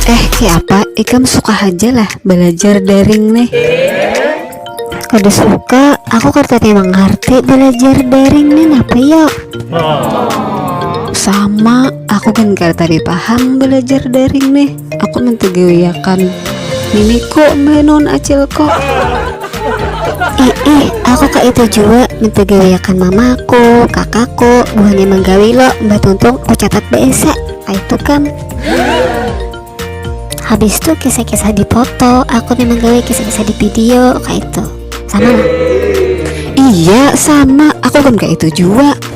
Eh kiapa ikam suka haja lah balajar daring nih Kada suka, aku kada tapi mangarti balajar daring nih napa yo Sama, aku gin kada tapi paham balajar daring nih. aku mentegewiakan niniku menon acilku ih ih aku ka itu jua mentegewiakan mamaku kakakku buhannya menggawi lo mbah tuntung aku catat baesa itu kam habis itu kisah-kisah di foto aku nih menggawi kisah-kisah di video kayak itu sama lah iya sama aku kan kayak itu juga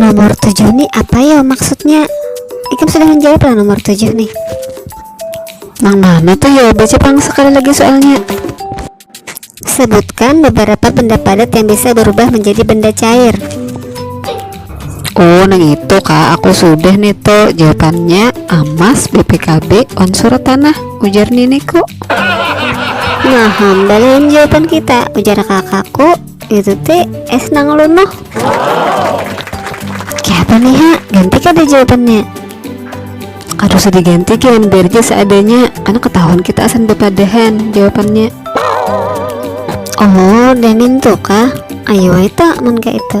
Nomor tujuh nih apa ya maksudnya? Ikam sudah menjawab lah nomor tujuh nih. Nang mana tuh ya? Baca pang sekali lagi soalnya. Sebutkan beberapa benda padat yang bisa berubah menjadi benda cair. Oh, nang itu kak, aku sudah nih tuh jawabannya amas BPKB unsur tanah ujar niniku. Nah, hambalan jawaban kita ujar kakakku Itu teh es nang lunuh. Kayak apa nih ha? Ganti kada jawabannya. Aduh sedih ganti kian biar aja seadanya karena ketahuan kita asan bepadahan jawabannya. Oh, dan itu kah? Ayo itu, mun kayak itu.